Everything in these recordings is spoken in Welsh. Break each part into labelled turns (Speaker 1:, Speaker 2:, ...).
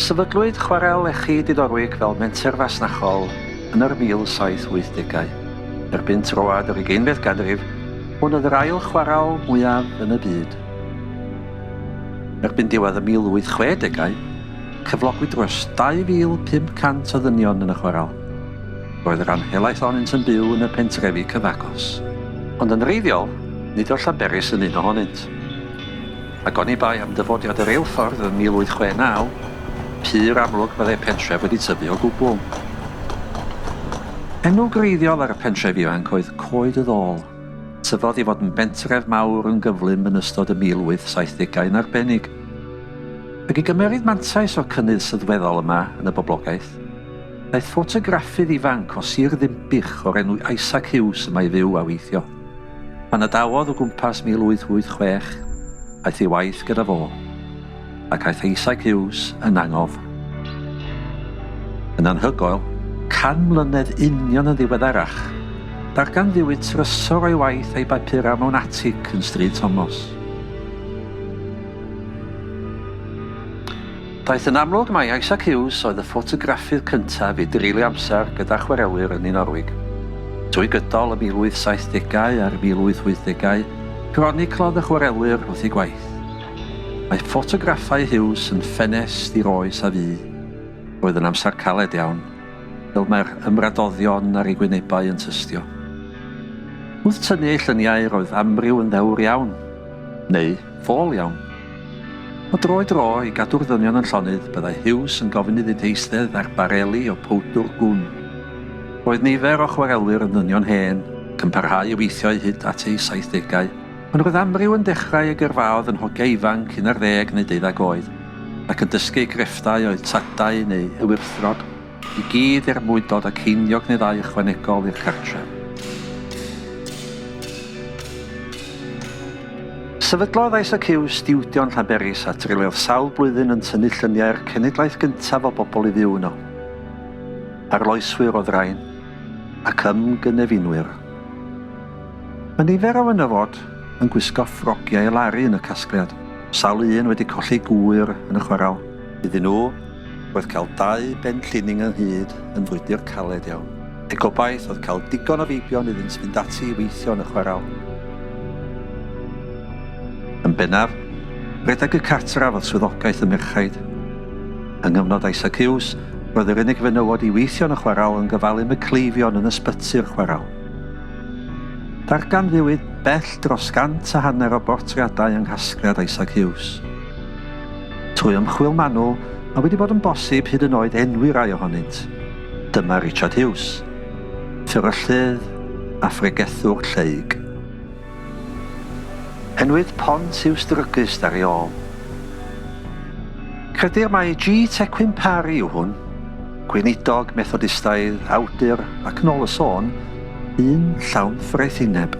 Speaker 1: Sefydlwyd Chwarel Lechi Diddorwig fel menter fasnachol yn yr 1780au. Erbyn troad yr ugeinfed ganrif, hwn oedd yr ail chwarel mwyaf yn y byd. Erbyn diwedd y 1860au, Cyflogwyd dros 2,500 o ddynion yn y chwaral. Roedd yr rhan helaeth ohonynt yn byw yn y pentrefi cyfagos. Ond yn wreiddiol, nid oedd Llanberis yn un ohonynt. Ac oni bai am dyfodiad y reilffordd yn 1869, pur amlwg byddai'r pentref wedi tyfu o gwbl. Enw gwreiddiol ar y pentref ifanc oedd Coed y Ddôl. Tyfodd i fod yn bentref mawr yn gyflym yn ystod y 1870au yn arbennig. Ac i gymeryd mantais o'r cynnydd sylweddol yma yn y boblogaeth, daeth ffotograffydd ifanc o Sir Ddinbych o'r enw Isaac Hughes yma i fyw a weithio. Pan adawodd o gwmpas 1886, aeth ei waith gyda fo. ac aeth Isaac Hughes yn angof. Yn anhygoel, can mlynedd union yn ddiweddarach, darganfuwyd trysor o'i waith a'i bapurau mewn atig yn Stryd Tomos. Daeth yn amlwg mai Isaac Hughes oedd y ffotograffydd cyntaf i dreulio amser gyda chwarelwyr yn Norwig. Trwy gydol y 1870au a'r 1880au, croniclodd y chwarelwyr wrth eu gwaith. Mae ffotograffau Hughes yn ffenest i'r oes a fu. Roedd yn amser caled iawn, fel mae'r ymradoddion ar ei wynebau yn tystio. Wrth tynnu ei lluniau roedd amryw yn ddewr iawn, neu ffôl iawn. O dro i dro, i gadw'r ddynion yn llonydd, byddai Hughes yn gofyn iddynt eistedd ar bareli o powdwr gwn. Roedd nifer o chwarelwyr yn ddynion hen, ac yn parhau i weithio eu hyd at eu saithdegau, Ond roedd amryw yn dechrau ei gyrfaodd yn hogia ifanc un ar ddeg neu deuddag oed, ac yn dysgu eu crefftau o'u tadau neu eu wrthddod, i gyd er mwyn dod â ceiniog neu ddau ychwanegol i'r cartref. Sefydlodd ISAQ stiwdio yn Llanberis a treuliodd sawl blwyddyn yn tynnu lluniau'r cenedlaeth gyntaf o bobl i fyw yno. Arloeswyr oedd rain, ac ymgynefinoir. Mae nifer o fenywod yn gwisgo ffrogiau i laru yn y casgliad, sawl un wedi colli gŵyr yn y chwarel. Iddyn nhw, roedd cael dau ben llining ynghyd yn frwydr caled iawn. Eu gobaith oedd cael digon o feibion iddynt fynd ati i weithio yn y chwarel. Yn bennaf, rhedeg y cartref oedd swyddogaeth y merchaid. Yng nghyfnod Isaac Hughes, roedd yr unig fenywod i weithio yn y chwarel yn gofalu am y cleifion yn ysbyty'r chwarel. Darganfuwyd bell dros gant a hanner o bortreadau yng nghasgliad Isaac Hughes. Trwy ymchwil manwl, mae wedi bod yn bosib hyd yn oed enwi rai ohonynt. Dyma Richard Hughes, fferyllydd a phregethwr lleyg. Enwyd Pont Hughes Druggist ar ei ôl. Credir mai G. Tequin Parry yw hwn. Gweinidog Methodistaidd, awdur, ac nôl y sôn, un llawn ffraethineb.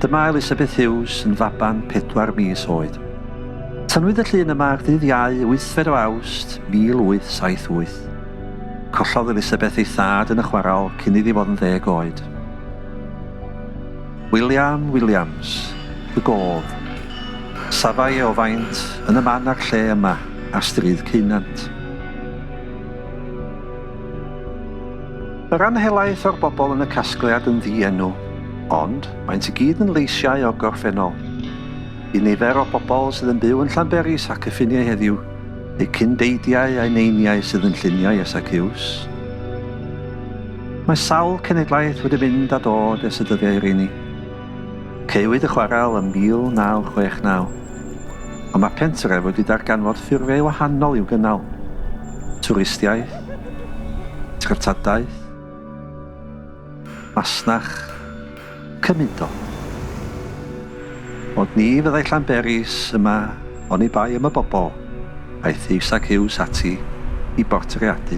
Speaker 1: Dyma Elizabeth Hughes yn faban pedwar mis oed. Tynnwyd y llun yma ar ddydd Iau, wythfed o Awst, 1878. Collodd Elizabeth ei thad yn y chwarel cyn iddi fod yn ddeg oed. William Williams, y gof. Safai e o faint, yn y man a'r lle yma. a Stryd Ceunant. Yr am helaeth o'r bobl yn y casgliad yn ddi-enw, ond maent i gyd yn leisiau o'r gorffennol. Y nifer o bobl sydd yn byw yn Llanberis ac y ffiniau heddiw, eu cyn-deidiau a'u neiniau sydd yn lluniau ers ac iws. Mae sawl cenedlaeth wedi mynd a dod ers y dyddiau rheini. Caewyd y chwarel ym 1969. Ond mae pentref wedi darganfod ffurfiau wahanol i'w gynnal, twristiaeth, treftadaeth, masnach, cymudol. Ond ni fyddai Llanberis yma oni bai am y bobl aeth Huws ac Huws ati i bortreadu.